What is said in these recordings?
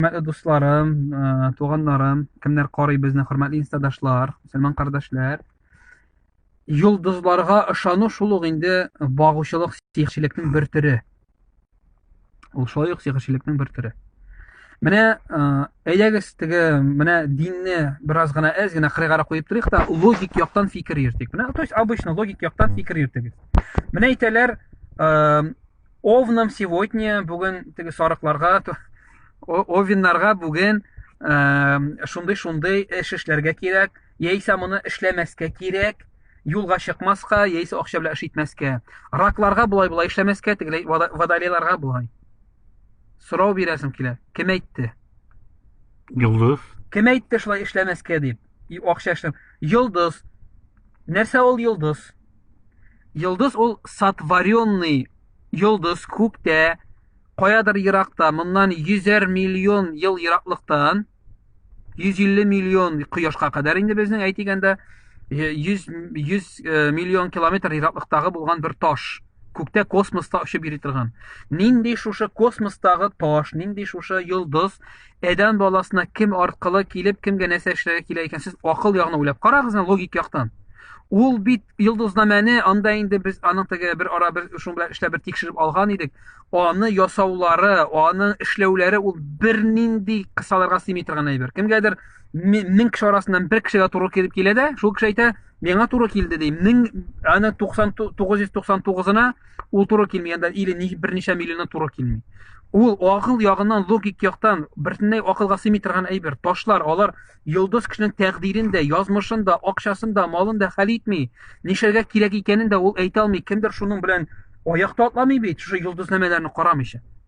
Хөрмәтле дусларым, э, туганнарым, кемнәр карый безне, хөрмәтле инстадашлар, мөселман кардәшләр. Йолдызларга ышану шул ук инде багучылык сихерчелекнең бер төре. Ул шулай ук сихерчелекнең бер төре. Менә э, әйдәгез теге менә динне бераз гына әз генә кырыйгара куеп торыйк та логик яктан фикер йөртик. Менә то есть обычно логик яктан фикер йөртегез. Менә әйтәләр, э, Овнам сегодня бүген теге сарыкларга овиннарга бүген шундый шундый эш эшләргә кирәк яисә моны эшләмәскә кирәк юлга чыкмаска яисә акча белән эш итмәскә ракларга болай болай эшләмәскә тегеләй водолейларга болай сорау бирәсем килә кем әйтте йолдыз кем әйтте шулай эшләмәскә дип и акча эшләм йолдыз нәрсә ул йолдыз Йолдыз ул сотворенный йолдыз күктә, каядыр еракта, моннан йөзәр миллион ел ераклыктан, 150 миллион кояшка кадәр инде безнең әйтегәндә 100, 100 миллион километр ераклыктагы булган бер таш күктә космоста очып йөри торган нинди шушы космостагы таш нинди шушы йолдыз Әдән баласына кем аркылы килеп, кемгә нәрсә эшләргә килә икән, сез акыл ягына уйлап карагыз, логик яктан. Ул бит йолдызнамәне анда инде без аның теге бер ара бер шуның белән эшләп бер тикшереп алган идек. Аны ясаулары, аны эшләүләре ул бернинди кысаларга сыймый торган әйбер. Кемгәдер мең кеше арасыннан бер кешегә туры килеп килә дә, шул кеше әйтә, миңа туры килде ди. Мең аны 9999-ына Ул туры килми, анда или ни берничә миллионы туры килми. Ул акыл ягыннан, логик яктан бертенләй акылга сыймый торган әйбер. Ташлар, алар йолдыз кешенең тәкъдирен дә, язмышын да, акчасын да, малын да хәл итми. Нишәргә кирәк икәнен дә ул әйтә алмый. Кемдер шуның белән аякта атламый бит, шушы йолдызнамәләрне карамыйча.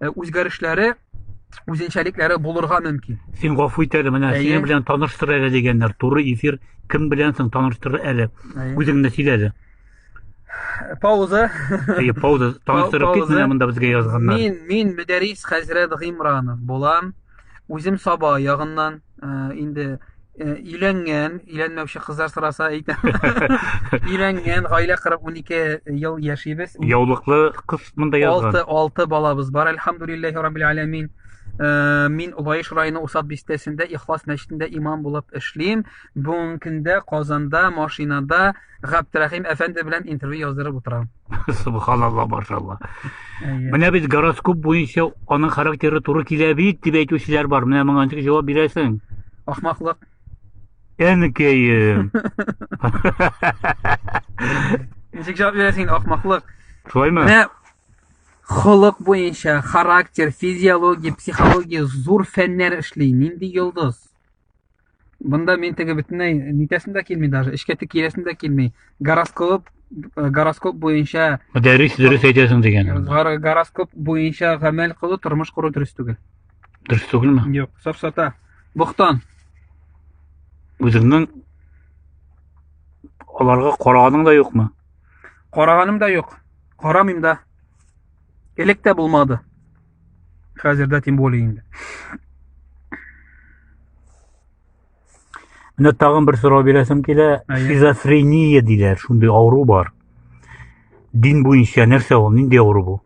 э, үзгәрешләре үзенчәлекләре булырга мөмкин. Син гафу ит әле, менә синең белән таныштыр әле дигәннәр. Туры эфир кем белән соң таныштыр әле. Үзеңне сөйлә әле. Пауза. Әйе, пауза. Таныштырып кит менә монда безгә язганнар. Мин, мин Мөдәрис хәзрәт Гыймранов булам. Үзем Саба ягыннан. Ә, инде Э, өйләнгән өйләнмәүче кызлар сораса әйтәм өйләнгән гаилә корып унике ел яшибез яулыклы кыз монда язган алты алты балабыз бар әлхамдулиллахи раббил аләмин э, мин лаеш районы усад бистәсендә ихлас мәчетендә имам булып эшлим бүгенге көндә казанда машинада Габдрәхим әфәнде белән интервью яздырып утырам. Субханалла, машалла. Менә бит гороскоп буенча аның характеры туры килә бит дип әйтүчеләр бар. Менә моңа ничек җавап бирәсең? Ахмаклык. Әнкәем. Ничек җавап бирәсең инде ахмаклык? Шулаймы? Менә холык буенча характер, физиология, психология зур фәннәр эшли. Нинди йолдыз? Бында мин теге бөтенләй нитәсем дә килми даже, эшкә тик киләсем дә килми. Гороскоп э, гороскоп буенча Мөдәррис дөрес әйтәсең дигән. гор- гороскоп буенча гамәл кылу, тормыш кору дөрес түгел. Дөрес түгелме? Юк, сафсата. Бохтан. Үзеңнең аларга караганың да юкмы? Караганым да юк. Карамыйм да. Элек тә булмады. Хәзердә тем более инде. Менә тагын бер сорау бирәсем килә. Шизофрения диләр, шундый авыру бар. Дин буенча нәрсә ул? Нинди авыру бу?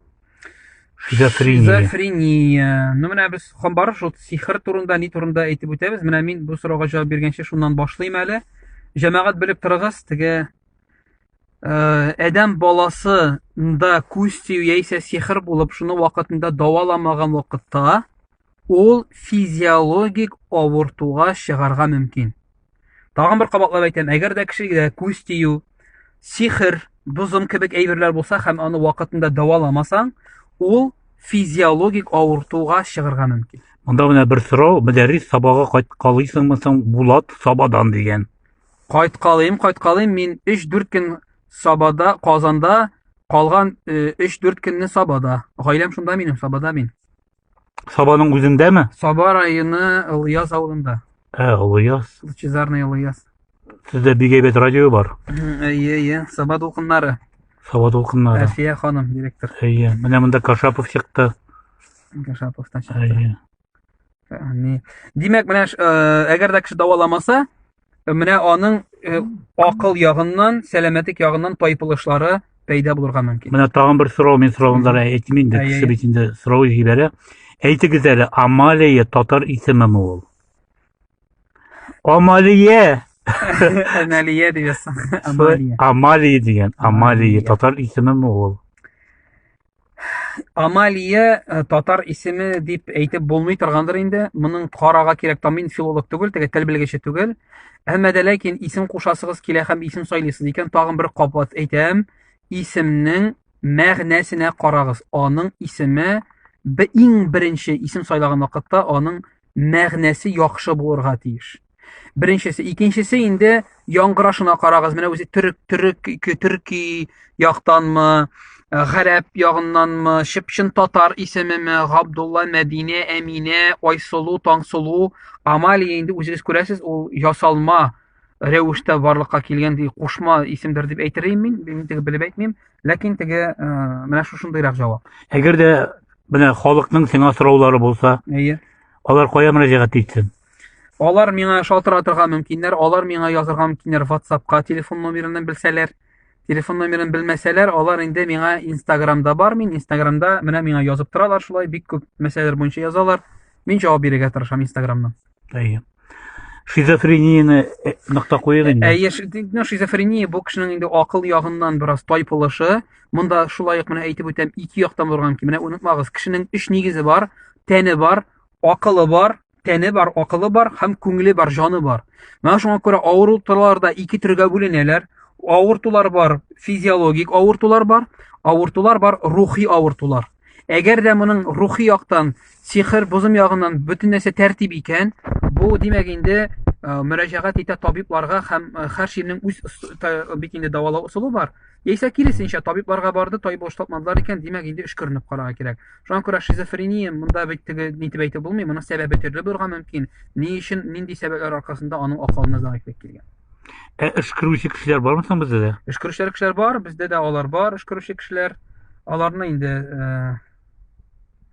Шизофрения. Шизофрения. Ну менә без хабар шул сихр турында, ни турында әйтеп үтәбез. Менә мин бу сорауга җавап биргәнче шуннан башлыйм әле. Җәмәгать белеп торыгыз, теге Э, адәм баласы да күз тию яисә сихр булып шуны вакытында даваламаган вакытта ул физиологик авыртуга чыгарга мөмкин. Тагын бер кабатлап әйтәм, әгәр дә кешегә күз тию, сихр, бозым кебек әйберләр булса һәм аны вакытында даваламасаң, ул физиологик авыртуга чыгарга мөмкин. Монда менә бер сорау, мөдәррис сабага кайткалыйсыңмы соң Булат Сабадан дигән. Кайткалыйм, кайткалыйм, мин 3-4 көн Сабада, Казанда, калган 3-4 э, көнне Сабада. Гаиләм шунда минем, Сабада мин. Сабаның үзендәме? Саба районы Ылыяз авылында. Ә, Ылыяз. Лучезарный Ылыяз. Сездә бик әйбәт радио бар. Әйе, әйе, Саба дулкыннары. Саба дулкыннары. Әлфия ханым, директор. Әйе, менә монда Кашапов чыкты. Кашапов та чыкты. Әйе. Димәк, менә э, әгәр дә кеше дәваламаса, э, менә аның э, акыл ягыннан, сәламәтлек ягыннан тайпылышлары пәйда булырга мөмкин. Менә тагын бер сорау, мин соравында да әйтмим инде, кеше бит инде сорау җибәрә. Әйтегез әле, Амалия татар исемеме ул? Амалия. Амалия дип Амалия. Амалия дигән. Амалия татар исемеме ул? Амалия э, татар исеме дип әйтеп булмый торгандыр инде. Моның карага кирәк та мин филолог түгел, теге тел белгече түгел. Әмма дә ләкин исем кушасыгыз килә һәм исем сайлыйсыз икән, тагын бер кабат әйтәм, исемнең мәгънәсенә карагыз. Аның исеме бе иң беренче исем сайлаган вакытта аның мәгънәсе яхшы булырга тиеш. Беренчесе, икенчесе инде яңгырашына карагыз. Менә үзе төрек, төрек, төрки яктанмы, э, гарәп ягыннанмы, чыпчын татар исемеме, Габдулла, Мәдинә, Әминә, Айсылу, Таңсылу, Амалия инде үзегез күрәсез, ул ясалма рәвештә барлыкка килгән ди кушма исемдер дип әйтер идем мин мин теге белеп әйтмим ләкин теге э, менә шушындыйрак җавап әгәр дә менә халыкның сиңа сораулары булса әйе алар кая мөрәҗәгать итсен Алар миңа шалтыратырга мөмкиннәр, алар миңа язырга мөмкиннәр WhatsAppка телефон номерын белсәләр. Телефон номерын белмәсәләр, алар инде миңа Instagramда бар, мин Instagramда менә миңа язып торалар шулай, бик күп мәсьәләләр буенча язалар. Мин җавап бирергә тырышам Instagramнан. Әйе. Шизофренияне э, нокта куйыйк инде. Әйе, ну, шизофрения бу кешенең инде акыл ягыннан бераз тайпылышы. Монда шулай ук менә әйтеп үтәм, ике яктан булган ки, менә онытмагыз, кешенең өч нигезе бар, тәне бар, акылы бар, тәне бар, акылы бар һәм күңеле бар, җаны бар. Менә шуңа күрә авырулар да ике төргә бүленәләр. Авыртулар бар, физиологик авыртулар бар, авыртулар бар, рухи авыртулар. Әгәр дә моның рухи яктан, сихер, бозым ягыннан бөтен нәрсә тәртип икән, бу димәк инде э, мөрәҗәгать итә табибларга һәм э, һәр ширнең үз бит инде дәвалау ысулы бар. Яисә киресенчә, табибларга барды, табибы ошатмадылар икән, димәк, инде өшкеренеп карарга кирәк. Шуңа күрә шизофрения монда бит теге нитеп әйтеп булмый, моның сәбәбе төрле булырга мөмкин. Ни өчен, нинди сәбәпләр аркасында аның акылына зәгыйфьлек килгән? Ә өшкерүче кешеләр бармы соң бездә дә? Өшкерүчеләр кешеләр бар, бездә дә алар бар, өшкерүче кешеләр. Аларны инде э,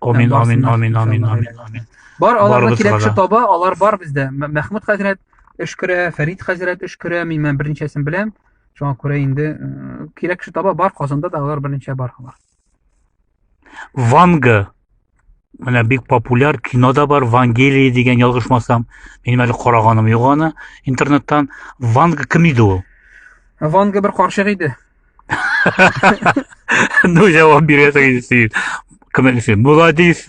Амин, амин, амин, амин, амин, амин. Бар аларга кирәкче таба, алар бар бездә. Мәхмүд хәзрәт эш күрә, Фәрид хәзрәт эш күрә, мин мен беренчәсен беләм. Шуңа күрә инде э, кирәкче таба бар, Казанда да алар беренчә бар алар. Ванга менә бик популяр кино да бар вангелия дигән ялгышмасам минем әле караганым юк аны интернеттан ванга кем иде ул ванга бер карчык иде Ну, я вам берет и сидит. Комментарий, молодец.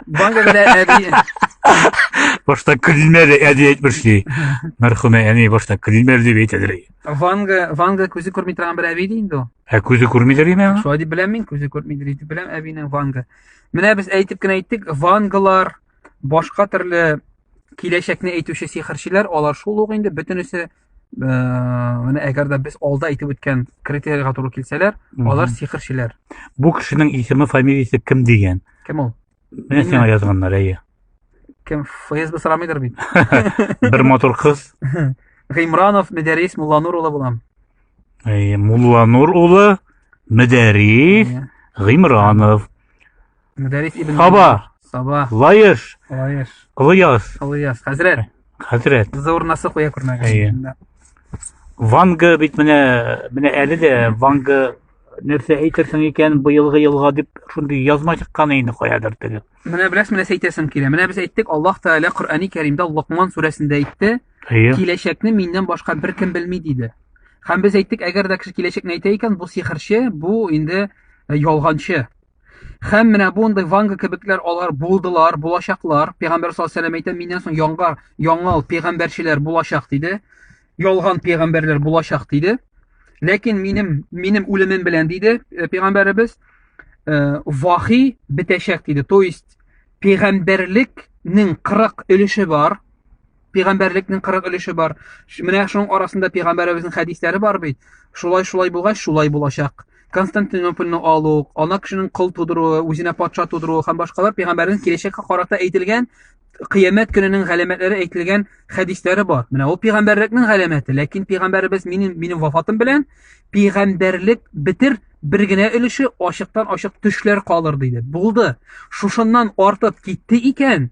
Банка бля, эди. Башта килмәде, әди әйтмешли. Мәрхүмә әни башта килмәде дип әйтәдер. Ванга, Ванга күзе күрми торган бер әби инде ул. Ә күзе күрмидер име? Шулай дип беләм мин, күзе күрмидер дип беләм әбинең Ванга. Менә без әйтеп кенә әйттек, Вангалар башка төрле киләчәкне әйтүче сихерчеләр, алар шул ук инде бөтенесе менә әгәр дә без алда әйтеп үткән критерийга туры килсәләр алар сихерчеләр бу кешенең исеме фамилиясе кем дигән кем ул менә сиңа язганнар әйе кем фсб сорамыйдыр бит бер матур кыз гыймранов медәрис мулланур улы булам мулланур улы медәрис гыймранов Мөдәррис ибн Саба. Саба. Лаеш. Лаеш. Кылыяз. Кылыяз. Хәзрәт. Хәзрәт. Кызы урнасы куя күрмәгән. Ванга бит менә менә әле дә Ванга нәрсә әйтерсең икән быелгы елга дип шундый язма чыккан инде каядыр теге. Менә беләсез, менә әйтәсем килә. Менә без әйттек, Аллаһ Тәгалә Коръәни Кәримдә Локман сүрәсендә әйтте, киләчәкне миннән башка беркем белми диде. Һәм без әйттек, әгәр дә кеше киләчәкне әйтә икән, бу сихерче, бу инде э, ялганчы. Хәм менә бундай ванга кебекләр алар булдылар, булачаклар. Пәйгамбәр саллаллаһу алейһи әйтә, миннән соң яңа яңа пәйгамбәрчеләр булачак диде. Ялган пәйгамбәрләр булачак диде. Ләкин минем минем үлемем белән диде э, пәйгамбәребез э, вахи бетәчәк диде. То есть пәйгамбәрлекнең 40 өлеше бар. пигамбәрлекнең кырык өлеше бар. Менә шуның арасында пигамбәребезнең хәдисләре бар бит. Шулай шулай булгач, шулай булачак. Константинопольны алу, ана кешенең кол тудыруы, үзенә патша тудыруы һәм башкалар пигамбәрнең киләчәккә карата әйтелгән кыямәт көненең галәмәтләре әйтелгән хәдисләре бар. Менә ул пигамбәрлекнең галәмәте, ләкин пигамбәребез минем минем вафатым белән пигамбәрлек битер бер генә өлеше ачыктан ачык төшләр калыр диде. Булды. Шушыннан артып китте икән,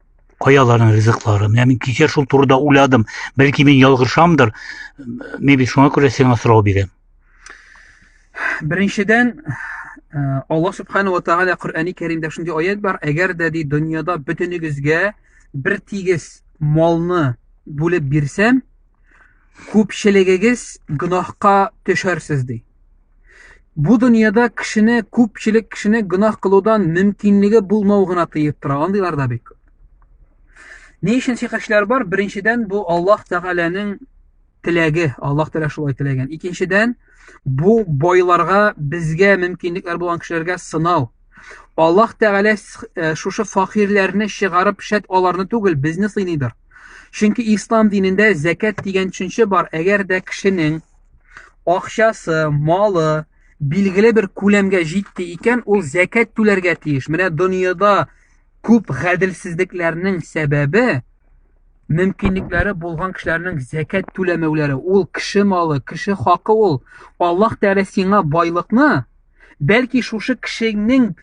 каяларның ризыклары. Менә мин кичә шул турыда уйладым. Бәлки мин ялгышамдыр. Мин бит шуңа күрә сиңа сорау бирәм. Беренчедән, э, Аллаһ субхану ва тааля Коръәни Кәримдә шундый аят бар, әгәр дә ди дөньяда бөтенегезгә бер тигез малны бүлеп бирсәм, күпчелегегез гөнаһка төшәрсез ди. Бу дөньяда кешене, күпчелек кешене гөнаһ кылудан мөмкинлеге булмау гына тыеп тора. Андыйлар да бик күп. Ни өчен шикашләр бар? Беренчедән, бу Аллаһ Тәгаләнең теләге, Аллаһ Тәгалә шулай теләгән. Икенчедән, бу байларга, безгә мөмкинлекләр булган кешеләргә сынау. Аллаһ Тәгалә э, шушы факирләрне чыгарып шәт аларны түгел, безне сыйныйдыр. Чөнки ислам динендә зәкәт дигән төшенчә бар. Әгәр дә кешенең акчасы, малы билгеле бер күләмгә җитте икән, ул зәкәт түләргә тиеш. Менә дөньяда күп гаделсезлекләрнең сәбәбе мөмкинлекләре булган кешеләрнең зәкәт түләмәүләре. Ул кеше малы, кеше хакы ул. Аллаһ Тәгалә сиңа байлыкны Бәлки шушы кешеңнең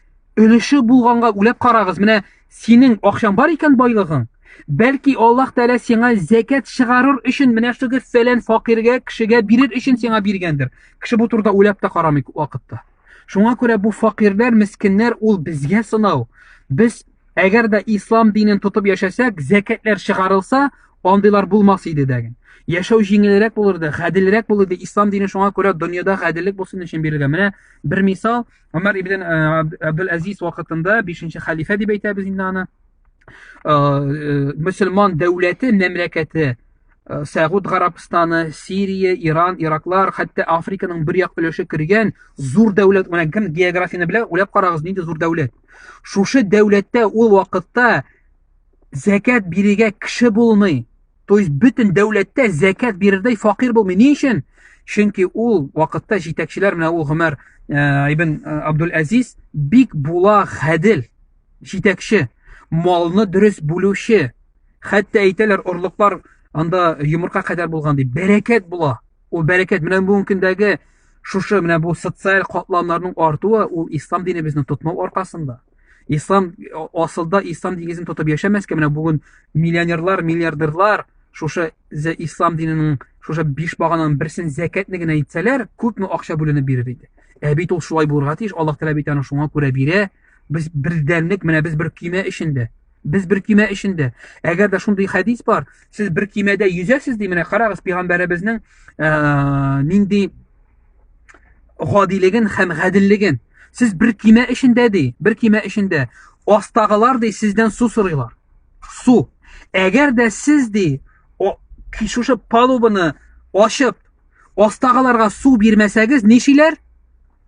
өлеше булганга үләп карагыз. Менә синең акчаң бар икән байлыгың. Бәлки Аллаһ Тәгалә сиңа зәкәт чыгарыр өчен менә шугы фәлән факиргә, кешегә бирер өчен сиңа биргәндер. Кеше бу турыда уйлап та карамый күп вакытта. Шуңа күрә бу факирләр, мескеннәр ул безгә сынау. Без Әгәр дә ислам динен тотып яшәсәк, зәкәтләр чыгарылса, андыйлар булмас иде дәген. Яшәү җиңелрәк булырды, гаделрәк булырды. Ислам дине шуңа күрә дөньяда гаделлек булсын өчен бирелгән. Менә бер мисал, Умар ибн Абдул Азиз вакытында 5нче халифә дип әйтәбез инде аны. Э, э, мөселман дәүләте, мәмләкәте Э, Сәгуд Гарабстаны, Сирия, Иран, Ираклар, хәтта Африканың бер як өлеше кергән зур дәүләт, менә кем географияне белә, уйлап карагыз, нинди зур дәүләт. Шушы дәүләттә ул вакытта зәкәт бирергә кеше булмый. То есть бөтен дәүләттә зәкәт бирердәй факир булмый. Ни өчен? Чөнки ул вакытта җитәкчеләр менә ул Гомәр э, ибн э, Абдул Азиз бик була хәдил җитәкче, малны дөрес бүлүче, Хәтта әйтәләр, орлыклар анда йомырка кадәр булган дип, бәрәкәт була. Ул бәрәкәт менә бүгенге көндәге шушы менә бу социаль катламнарның артуы ул ислам динебезне тотмау аркасында. Ислам асылда ислам дигезен тотып яшәмәскә менә бүген миллионерлар, миллиардерлар шушы зә ислам диненең шушы биш багананың берсен зәкәтне генә итсәләр, күпме акча бүленеп бирер иде. Ә бит ул шулай булырга тиеш, Аллаһ Тәгалә бит аны шуңа күрә бирә. Без бердәнлек, менә без бер көймә эчендә. Без бер кимә эчендә. Әгәр дә шундый хәдис бар, сез бер кимәдә йөзәсез ди, менә карагыз пәйгамбәребезнең ә, нинди гадилеген һәм гаделлеген. Сез бер кимә эчендә ди, бер кимә эчендә. Астагылар ди сездән су сорыйлар. Су. Әгәр дә сез ди шушы палубаны ашып, астагыларга су бирмәсәгез, нишиләр?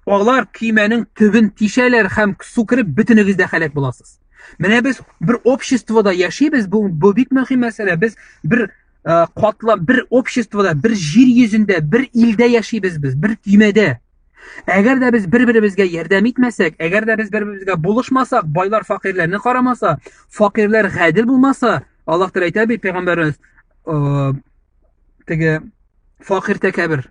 Алар кимәнең төбен тишәләр һәм су кереп бөтенегез дә һәлак буласыз. Менә без бер обществода яшибез, бу, бу бик мөһим мәсьәлә. Без бер ә, катлам, бер обществода, бер җир йөзендә, бер илдә яшибез без, бер көймәдә. Әгәр дә без бер-беребезгә ярдәм итмәсәк, әгәр дә без бер-беребезгә булышмасак, байлар факирләрне карамаса, факирләр гадел булмаса, Аллаһ Тәгалә әйтә бит пәйгамбәребез, теге факир тәкәбер,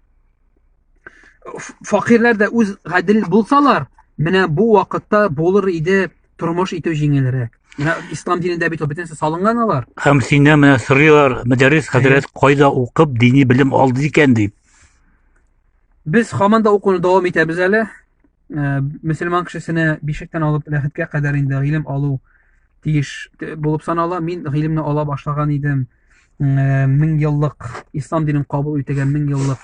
факирләр дә үз гадел булсалар, менә бу вакытта булыр иде тормыш итү җиңелрәк. Менә ислам динендә бит бөтенесе салынган алар. Һәм сине менә сорыйлар, Мәдәрис хәзрәт кайда укып, дини белем алды икән дип. Без хаманда да укуны дәвам итәбез әле. Э, мөселман кешесенә бишектән алып ләхеткә кадәр инде гыйлем алу тиеш булып санала мин гыйлемне ала башлаган идем э, мең еллык ислам динен кабул итүгә мең еллык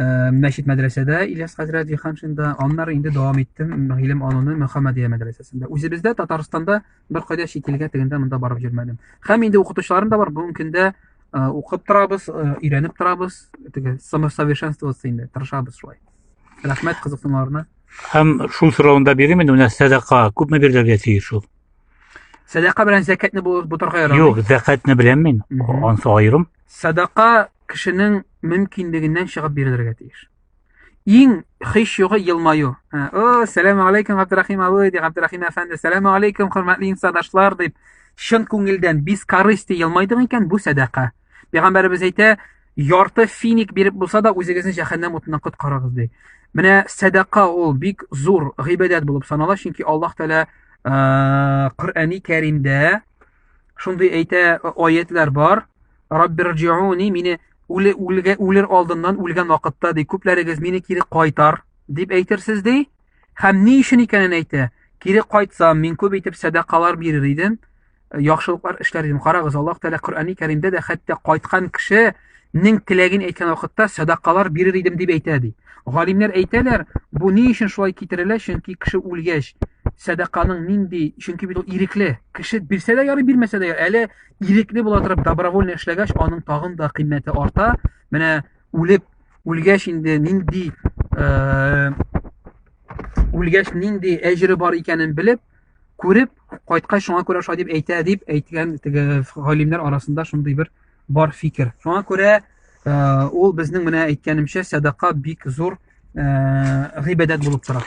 э, мәчет мәдрәсәдә ильяс хәзрәт җиһаншинда аннары инде дәвам иттем гыйлем алуны мөхәммәдия мәдрәсәсендә үзебездә татарстанда беркайда чит илгә тегендә монда барып йөрмәдем һәм инде укытучыларым да бар бүгенге көндә укып торабыз өйрәнеп торабыз теге самосовершенствоваться инде тырышабыз шулай Рәхмәт кызыксынуына. Һәм шул сорауны да бирим инде, менә сәдака күпме бирергә тиеш шул? Сәдака белән зәкәтне бу бутарга ярамый. Юк, зәкәтне беләм мин. Мгм. Ансы аерым. Садака кешенең мөмкинлегеннән чыгып бирелергә тиеш. Иң хиш югы елмаю. Ә, О, сәлам алейкум, Габдрахим абый, ди Габдрахим әфәнде. Сәлам алейкум, хөрмәтле инсадашлар, дип чын күңелдән без корысти елмайдың икән, бу сәдака. Пәйгамбәребез әйтә, ярты финик биреп булса да үзегезне җәһәннәм утыннан коткарыгыз ди. Менә сәдака ул бик зур гыйбадәт булып санала, чөнки Аллаһ Тәгалә Коръәни Кәримдә шундый әйтә аятлар бар. Раббирҗиуни мине үле үлгә үлер алдыннан үлгән вакытта ди күпләрегез мине кире кайтар дип әйтерсез ди. Һәм ни өчен икәнен әйтә. Кире кайтсам, мин күп итеп сәдакалар бирер идем. яхшылыклар эшләр идем. Карагыз, Аллаһ Тәгалә Коръәни Кәримдә дә хәтта кайткан кешенең теләген әйткән вакытта садакалар бирер идем дип әйтә ди. Галимнәр әйтәләр, бу ни өчен шулай китерелә? Чөнки кеше үлгәч, садаканың нинди, чөнки бит ул ирекле. Кеше бирсә дә ярый, бирмәсә дә ярый. Әле ирекле була торып добровольно эшләгәч, аның тагын да кыйммәте арта. Менә үлеп үлгәч инде нинди э, үлгәч нинди әҗере бар икәнен белеп, күреп кайткай шуңа күрә шулай дип әйтә дип әйткән теге галимнәр арасында шундый бер бар фикер шуңа күрә э, ул безнең менә әйткәнемчә сәдака бик зур э, гыйбадәт булып тора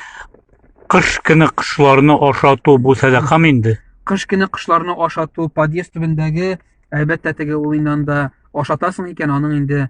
кыш көне кошларны ашату бу сәдакамы инде кыш көне кошларны ашату подъезд төбендәге әлбәттә теге ул инде анда ашатасың икән аның инде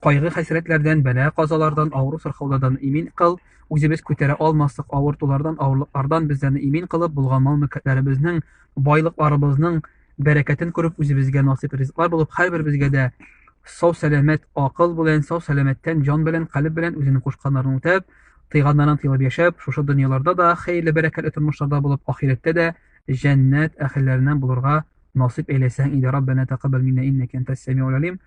Кайгы-хәсрәтләрдән, бәла-казалардан, авыру-сырхаулардан имин кыл, үзебез күтәрә алмаслык авыртулардан, авырлыклардан безләрне имин кылып, булган мал-мөлкәтләребезнең, байлыкларыбызның бәрәкәтен күреп, үзебезгә насыйп ризыклар булып, һәрберебезгә дә сау-сәламәт акыл белән, сау-сәламәттән җан белән, калеб белән үзенең кушканнарын үтәп, тыйганнардан тыелып яшәп, шушы дөньяларда да хәерле-бәрәкәтле тормышларда булып, ахирәттә дә җәннәт әһелләреннән булырга насыйп әйләсен иде. Раббәнә тәкаббәл миннә иннәкә әнтәс-сәмигуль алим.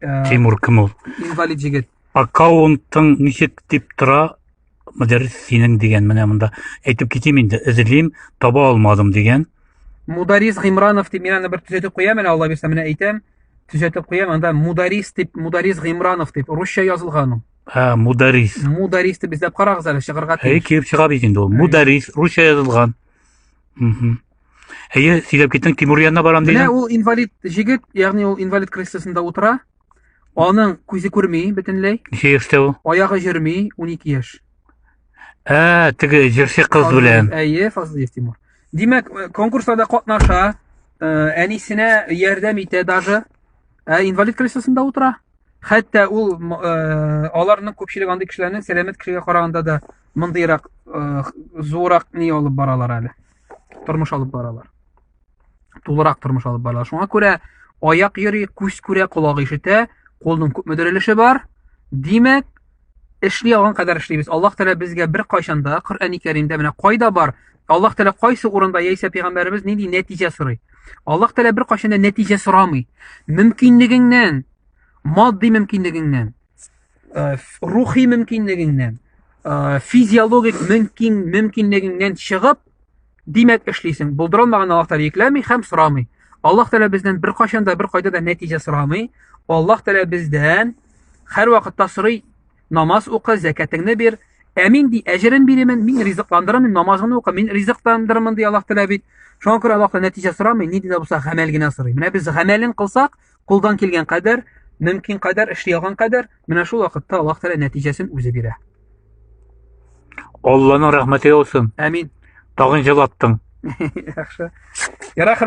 Э, Тимур кем ул? Инвалид егет. Аккаунтың ничек дип тора? Мөдәррис синең дигән менә монда. Әйтеп китим инде, эзлим, таба алмадым дигән. Мударис Гимранов дип мин аны бер төзәтеп куям әле, Алла бирсә менә әйтәм. Төзәтеп куям, анда Мударис дип, Мударис Гимранов дип русча язылган ул. Ә, Мударис. Мударис дип эзләп карагыз әле, чыгарга тиеш. Әй, киеп чыга бит инде ул. Мударис, русча язылган. Угу. Әйе, сөйләп киттең, Тимур янына барам дидең. Менә ул инвалид җегет, ягъни ул инвалид креслосында утыра. Аның күзе күрми бөтенләй. Ничә яшьтә ул? Аягы йөрми, 12 яшь. Ә, теге җырчы кыз белән. Әйе, Фазлыев Тимур. Димәк, э, конкурста да катнаша, э, әнисенә ярдәм итә даже. Ә инвалид креслосында утыра. Хәтта ул э, аларның күпчелек андый кешеләрнең сәламәт кешегә караганда да мондыйрак зурак ни алып баралар әле. тормыш алып баралар. Тулырак тормыш алып баралар. Шуңа күрә аяк йөри, күз күрә, колак ишетә, колның күпме дөрелеше бар. Димәк, эшли алган кадәр эшлибез. Аллаһ Тәгалә безгә бер кайшанда Коръәни Кәримдә менә кайда бар? Аллаһ Тәгалә кайсы урында яисә пәйгамбәребез нинди нәтиҗә сорый? Аллаһ Тәгалә бер кайшанда нәтиҗә сорамый. Мөмкинлегеңнән, матди мөмкинлегеңнән, э, рухи мөмкинлегеңнән э, физиологик мөмкин мөмкинлегеңнән чыгып димәк эшлисең булдырылмаган аллаһ тәғәлә йөкләми һәм сорамый аллаһ тәғәлә бездән беркайчан да беркайда да нәтиҗә сорамый аллаһ тәғәлә бездән һәрвакытта сорый намаз укы зәкәтеңне бир ә мин ди әҗерен бирәмен мин ризыкландырамын намазыңны укы мин ризыкландырамын ди аллаһ тәғәлә бит шуңа күрә аллаһ нәтиҗә сорамый нинди дә булса гамәл генә сорый менә без гамәлен кылсак Кулдан килгән кадәр, мөмкин кадәр, эшли алган кадәр, менә шул вакытта Аллаһ Тәгалә нәтиҗәсен үзе бирә. Алланың рәхмәте яусын. Әмин. Тагын җылаттың. Яхшы. Ярар,